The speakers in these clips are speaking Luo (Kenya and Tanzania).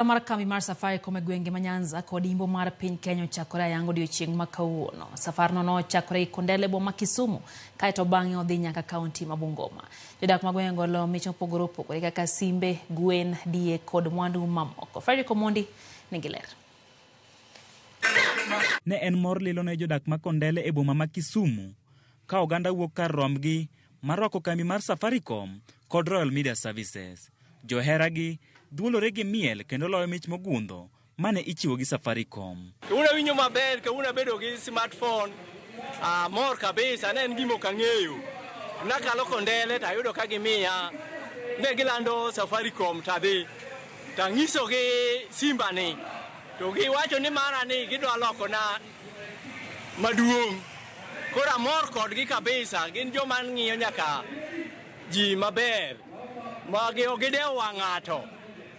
Ohala mar kambi mar Safaricom e gwenge ma Nyanza kod Imbo mar piny Kenya ochakore ayanga odiechieng' ma kawuono. Safarno nochakore Ikondele e boma ma Kisumu kaeto bang'e odhi nyaka kaunti ma Bungoma. Jodak ma gwengego olo mich mopogore opogore kaka simbe, gwen, diek kod mwandu mamoko. Fredrick Omondi nigi ler. Ne en mor lilo ne jodak ma Kondele e boma ma Kisumu ka oganda wuok kar rombgi marwako kambi mar Safaricom kod Royal Media Services. Joheragi duolore gi miel kendo loyo mich mogundho mane ichiwo gi Safaricom. Kawuono awinjo maber, kawuono abedo gi smartphone, amor kabisa, ne en gima ok ang'eyo. Nakalo kondele to ayudo ka gimiya, ne gilando Safaricom to adhi, to anyisogi simba ni, to giwacho ni mara ni gidwa lokona. Maduong'. Koro amor kodgi kabisa, gin joma ng'iyo nyaka ji maber, ma gi- ok gidewo wang' ng'ato.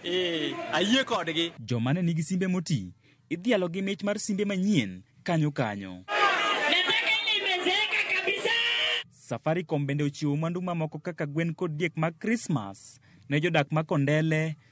Eh, ayie kodgi. Joma ne nigi simbe moti idhialo gi mich mar simbe manyien kanyo kanyo. Nataka ile imezeeka kabisa. Safaricom bende ochiwo mwandu mamoko kaka gwen kod diek mag Krismas ne jodak ma Kondele,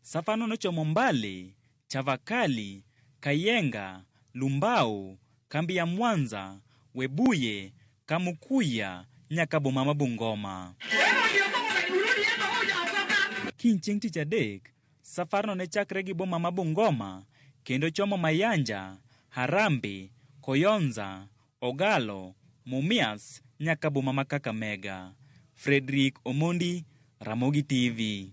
Safano nochomo Mbale, Chavakali, Kayenga, Lumbao, kambi ya Mwanza, Webuye, Kamukuya nyaka boma ma Bungoma. Kiny chieng' tich adek, safarno ne chakre gi boma ma Bungoma kendo chomo Mayanja, Harambe, Koyonza, Ogalo, Mumias nyaka boma ma Kakamega. Fredrick Omondi, Ramogi TV.